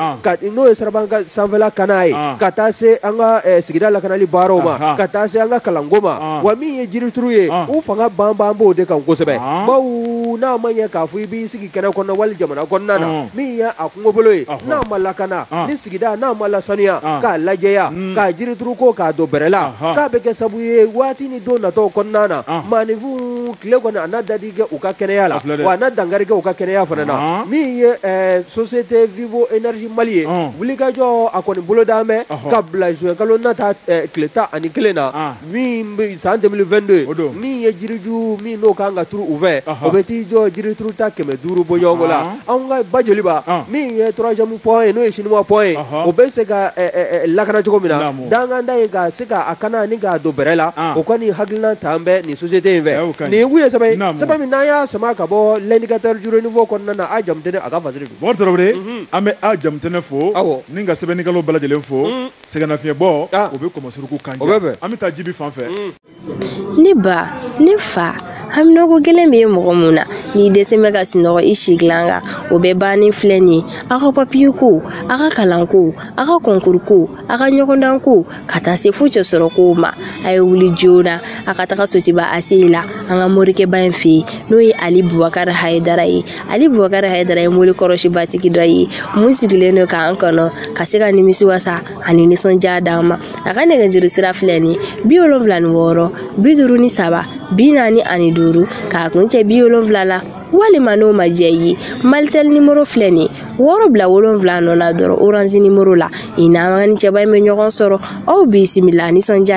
n'o ye siraba ka sanfɛla kana ye ka taa se an ka sigida lakanali baaraw ma ka taa se an ka kalanko ma wa min ye jirituru ye u fanga banban b'o de kan kosɛbɛ bawo n'a ma ɲɛ k'a fɔ i b'i sigi kɛnɛ kɔnɔ wali jamana kɔnɔna na Ɔn. min ye a kungobolo ye Ɔhɔ. n'a ma lakana Ɔn. ni sigida n'a ma lasaniya Ɔn. k'a lajɛya Mm. k'a jirituru ko k'a don bɛrɛ la Ɔhɔ. k'a bɛ kɛ sabu ye waati ni don natɔw kɔnɔna na Ɔn. maaninfinw tile kɔni a na dadi kɛ u ka kɛnɛya la A filɛ dɛ. wa a na dankari kɛ u ka kɛnɛya fana na Ɔn. min ye eh, société vivo énergie mali ye Ɔn. wulikajɔ a kɔni bolodan bɛ Ɔhɔ. ka bila juin kalo nata eh, tile tan ani kelen na Ɔn. min bɛ san 2022 min ye jiriju min n'o kan ka turu u fɛ o bɛ t'i jɔ jirituru ta kɛmɛ duuru bɔ ɲɔgɔn la anw ka ba joliba min ye troisième pont ye n'o ye chinois pont ye o bɛ se ka lakana cogo min na danganda ye ka se k'a kana ni k'a don bɛrɛ la o kɔni hakilina tan bɛ nin société in fɛ nin ye kun ye sɛbɛn ye sɛbɛn min n'an y'a sama ka bɔ l'indicateur du renouveau kɔnɔna na a jamutɛnɛ a ka fasiri don Mɔmɛdi Tarawele an bɛ a jamutɛnɛ fo awɔ ni ka sɛbɛnnikɛlaw bɛɛ lajɛlen fo sɛgɛnnafiɲɛbɔ ah. o bɛ kɔmɔsuruku kan o bɛ bɛn an bɛ taa jibi fan fɛ mm. ne ba ne fa haminako gɛlɛn bɛ e mɔgɔ mun na n'i dɛsɛ bɛ ka sunɔgɔ i si dilan kan o bɛɛ bannen filɛ nin ye aw ka papiye ko aw ka kalan ko aw ka kɔnkuru ko aw ka ɲɔgɔndan ko ka taa se fo cɛsɔrɔ kow ma a ye wuli joona a ka taga sotuba ACI la an ka morikɛba in fɛ yen n'o ye ali bubakari hayidara ye ali bubakari hayidara ye mori kɔrɔ sebatigi dɔ ye mun sigilen don k'an kɔnɔ ka se ka nimisi wasa ani nisɔndiya d'an ma a ka nɛgɛjuru sira filɛ nin bi wolonfila ni wɔɔrɔ bi duuru ni saba bi naani ani duuru k'a kun cɛ bi wolonfila la walima n'o ma diya i ye malitel nimoro filɛ nin wɔɔrɔ bila wolonfila nɔ la dɔrɔn oranzi nimoro la i n'an ka ni cɛba in bɛ ɲɔgɔn sɔrɔ aw bisimila nisɔndiya